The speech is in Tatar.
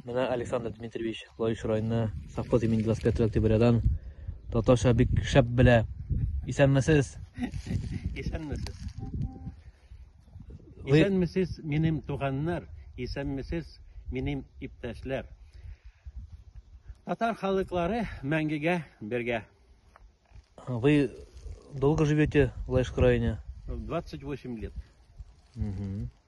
Менә Александр Дмитриевич Лаеш районы совхоз имени 25 октябрядан татарча бик шәп белә. Исәнмесез. Исәнмесез. Исәнмесез минем туганнар, исәнмесез минем иптәшләр. Татар халыклары мәңгегә бергә. Вы долго живете в Лаешском районе? 28 лет. Угу.